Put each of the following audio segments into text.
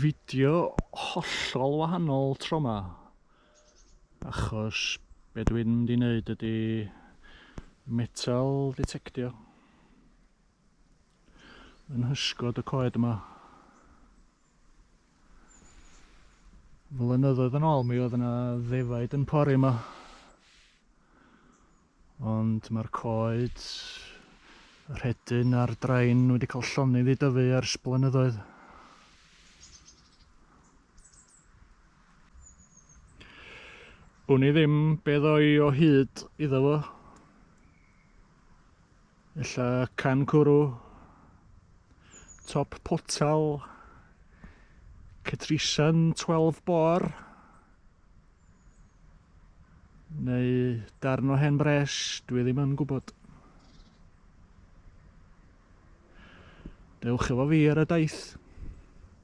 fideo hollol wahanol tro ma achos be dwi'n mynd i wneud ydy metal detectio yn hysgod y coed yma flynyddoedd yn ôl mi oedd yna ddefaid yn pori yma Ond mae'r coed, y rhedyn a'r drain wedi cael llonydd i dyfu ers blynyddoedd. Wn i ddim be ddoi o hyd iddo fo. Ella can cwrw, top potal, Catrisan 12 bor, neu darn o hen bres, dwi ddim yn gwybod. Dewch efo fi ar y daith.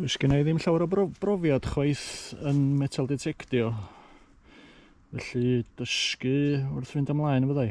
Does gen i ddim llawer o brofiad chwaith yn metal detectio. Felly dysgu wrth fynd ymlaen fyddai.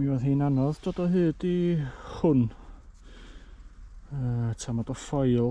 mi oedd hi'n anodd dod o hyd i hwn uh, tam o ffoil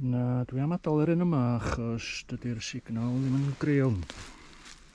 Na, dwi am adael yr un yma achos dydy'r signal ddim yn greol.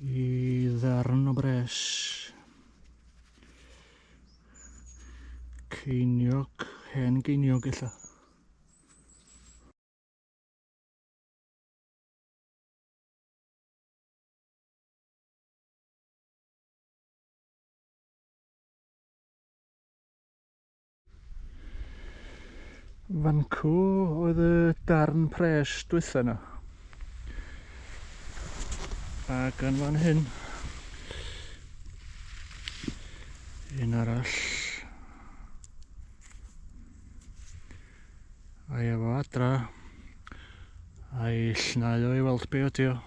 I ddarn o bres. Ceiniog, hen geiniog illa. Fancw oedd y darn pres dwytha yna. A gan fan hyn, un arall. A'i efo adra, a'i llnau o'i weld be ydi o.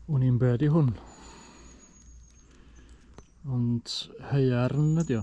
Wn i'n be ydi hwn. Ond heiarn ydi o.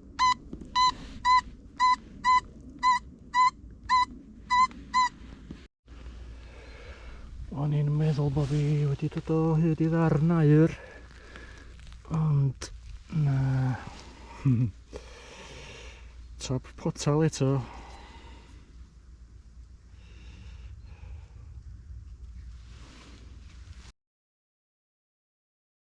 O'n i'n meddwl bod fi wedi dod o hyd i ddarn air. Ond, na. Top potal eto.